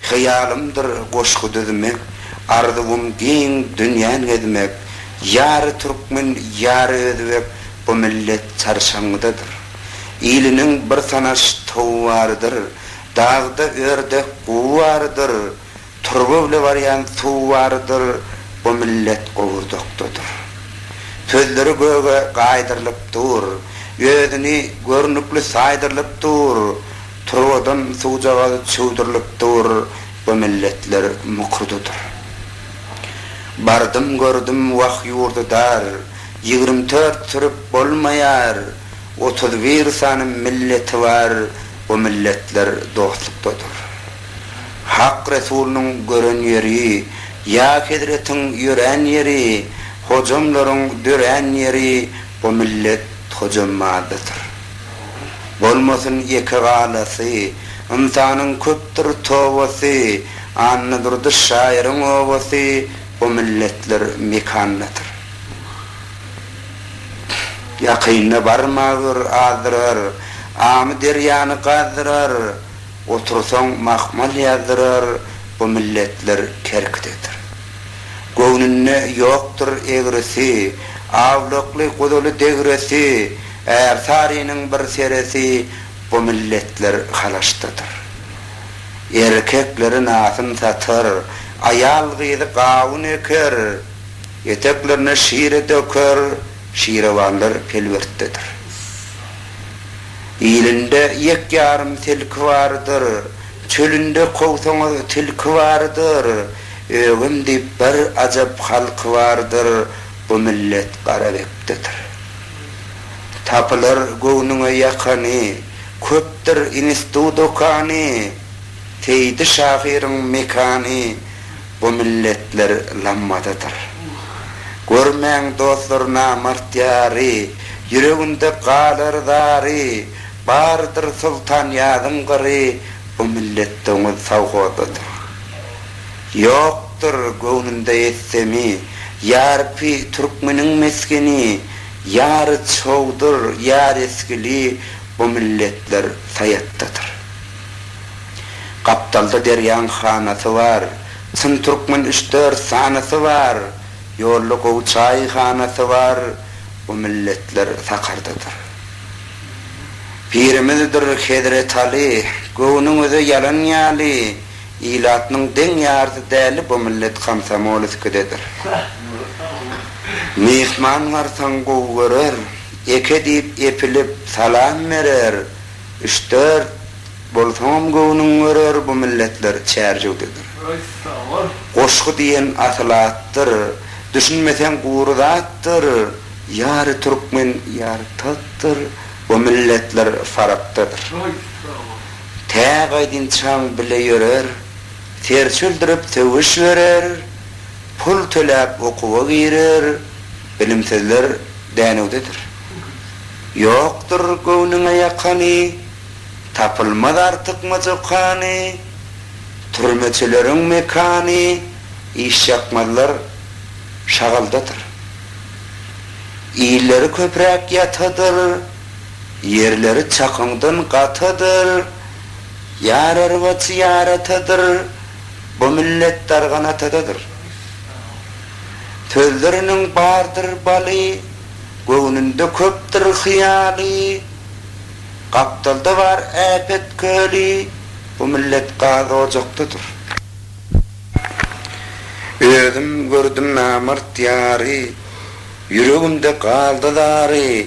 Hyýalymdyr goşgy düzmek, arzuwym giň dünýän gezmek, Ýary türkmen, ýary özbek, bu millet çarşaňňydadyr. Iliniň bir tanaş towy bardyr, dagda ördek guwy bardyr, Turba bile barýan suwy bardyr, bu millet gowurdakdadyr. Sözleri göge gaýdyrylyp dur, özüni görnükli saýdyrylyp dur, Turbadan suwjagaz çüwdürilip dur, bu milletler mukurdydyr. Bardym gördüm wah ýurdy dar, ýigrim tört sürüp bolmaýar, otuz bir sany milleti bar, bu milletler dostlukdadyr. Hak Resulynyň gören ýeri, ýa hezretiň ýörän ýeri, hojamlaryň dörän ýeri, bu millet hojamazdadyr. Bolmasyn ýeke galasy, Ynsanyň köpdür tobasy, Annadurdy şaýyryň obasy, Bu milletler mekandadyr. Ýakynda barma gör, azdyrar, Amyderýany gazdyrar, Otursaň mahmal ýazdyrar, Bu milletler kerkidedir. Göwnünde ýokdur egresi, Awlakly guzuly degresi, Ärsarynyň bir seresi bu milletler halaşdadyr. Erkekleri nasyn satar, aýal-gyzy gawun eker, eteklerine şire döker, şirewanlar pelwertdedir. Ilinde ýek-ýarym tilki bardyr, çölünde kowsaňyz tilki bardyr, ögem diýip bir ajap halky bardyr, bu millet garabekdedir. Tapylar göwnüňe ýakany, Köpdür instu-dokany, Seýdi şahyryň mekany, Bu milletler lammadadyr. Görmäň dostlar namart ýary, Ýüreginde galar zary, Bardyr Soltanýazyň gyry, Bu millet doňuz sowhodadyr. Ýok, Ýokdur göwnümde ýetsemi, Ýarpy türkmeniň mesgeni, Ýary çowdur, ýar esgili, Bu milletler Saýatdadyr. Gapdalda derýaň hanasy bar, Çyn türkmen üç-dört sanasy bar, Ýolda gowy çaýhanasy bar, Bu milletler Sakardadyr. Pirimizdir Hezretaly, Göwnüňize ýalan ýaly, ilatynyň deň ýarysy däli bu millet komsomolskidedir. Myhman garsaň gowy görer, eke diýip epilip salam berer, üç-dört bolsaňam göwnüň görer bu milletler çärjewdedir. Goşgy diýen asyl atdyr, düşünmeseň gury zatdyr, ýary türkmen ýary tatdyr bu milletler farapdadyr. Tä gaýdynçaň bile ýörer, ter çüldürip söwüş görer, pul töläp okuwa girer, bilimsizler dänewdedir. Ýokdur göwnüňe ýakany, tapylmaz artykmaç okany, türmeçileriň mekany, işýakmazlar şagaldadyr. Illeri köpräk ýatadyr, Ýerleri çakyňdan gatydyr, Ýar arbaçy ýar atadyr, Bu millet dargan atadadyr. Sözleriniň bardyr baly, Göwnünde köpdür hyýaly, Gapdalda bar äpet köli, Bu millet gaz ojakdadyr. Özüm gördüm namart ýary, Ýüregimde galdy zary,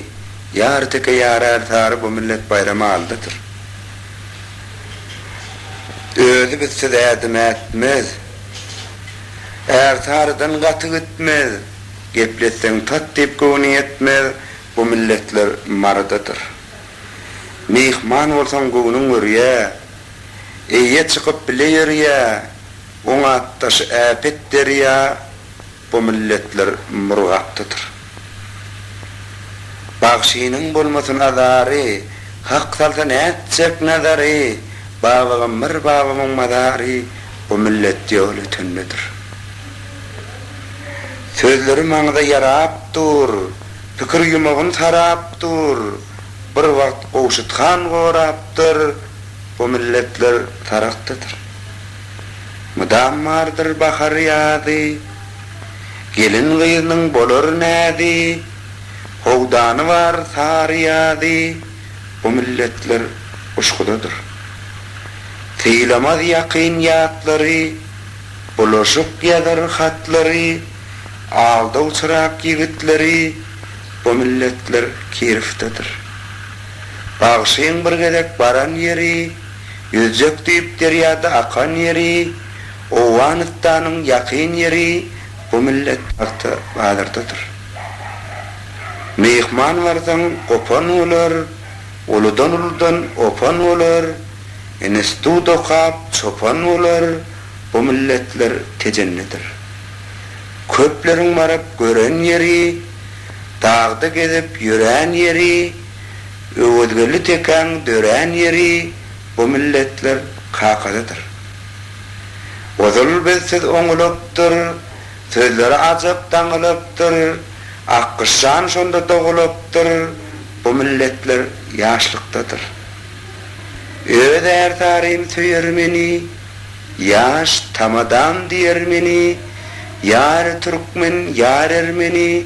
Ýar teke ýarär sary Bu millet baýramy aldadyr. Özi bizsiz ädim ätmez, Är sarydan gaty gitmez, Gepletseň tat diýip göwni ýetmez Bu milletler marydadyr. Myhman bolsaň göwnüň örýä, Eýe çykyp bile ýörýä, Oňat daşy äpet derýa, Bu milletler murgapdadyr. Bagşynyň bolmasyn azary, Hak salsa nätjek nazary, Babagam bir babamyň mazary, Bu millet ýol ötendedir. Sözleri maňza ýarap dur, Pikir ýumagyn sarap dur, Bir wagt Gowşut han gorapdyr, Bu milletler sarakdadyr. Mydam bardyr bahary-ýazy. Gelin-gyznyň bolar näzi. Howdany bar sary-ýazy. Bu milletler uşgudadyr. Sylamaz ýakyn ýatlary. Bulaşyk ýazar hatlary. Aldawçyrak ýigitleri. Bu milletler kirifdedir. Bagşyň bir gezek baran ýeri. Ýüzjek düýp derýada akan ýeri, Owganystanyň ýakyn ýeri bu millet tagta bazardadyr. Myhman barsaň gopan bolar, uludan uludan opan bolar, instut okap çopan bolar bu milletler Tejendedir. Köpleriň baryp gören ýeri, dagda gezip ýörän ýeri, Öwezgeldi tekäň dörän ýeri bu milletler kakasydyr. Ozal biz siz oňulykdyr, sözleri ajyk daňylykdyr, Akgyşjan şonda dogulykdyr, bu milletler ýaşlykdadyr. Öz ärsarym söýer meni, ýaş tamadam diýer meni, ýary türkmen, ýary ermeni,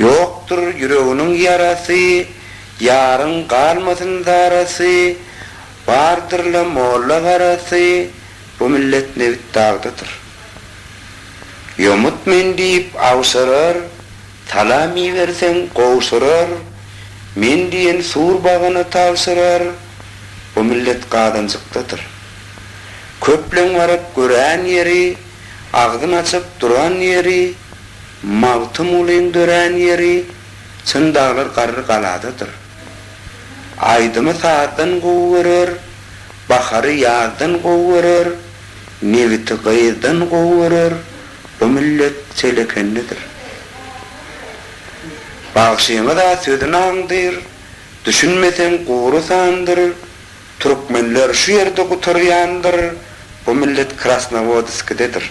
Ýokdur ýüreginiň ýarasy, Ýaryň galmasyn zarasy, Bardyr-la molla garasy, Bu millet nebit dagdadyr. Ýomut men diýip awşarar, Salam iberseň gowşurar, Men diýen sur bagyny tabşyrar, Bu millet gazanjykdadyr. Köpleň baryp gören ýeri, Agzyn açyp duran ýeri, Magtymgulyň dörän ýeri, Çyn daglar garry galadadyr. Aýdymy sazdan gowy görer, Bahary ýazdan gowy görer, Nebiti gyzdan gowy görer, Bu millet telekendedir. Bagşymyz-a sözün aňdyr, Düşünmeseň gury sandyr, Türkmenler şu ýerde gutarýandyr, bu millet Krasnowodskidedir.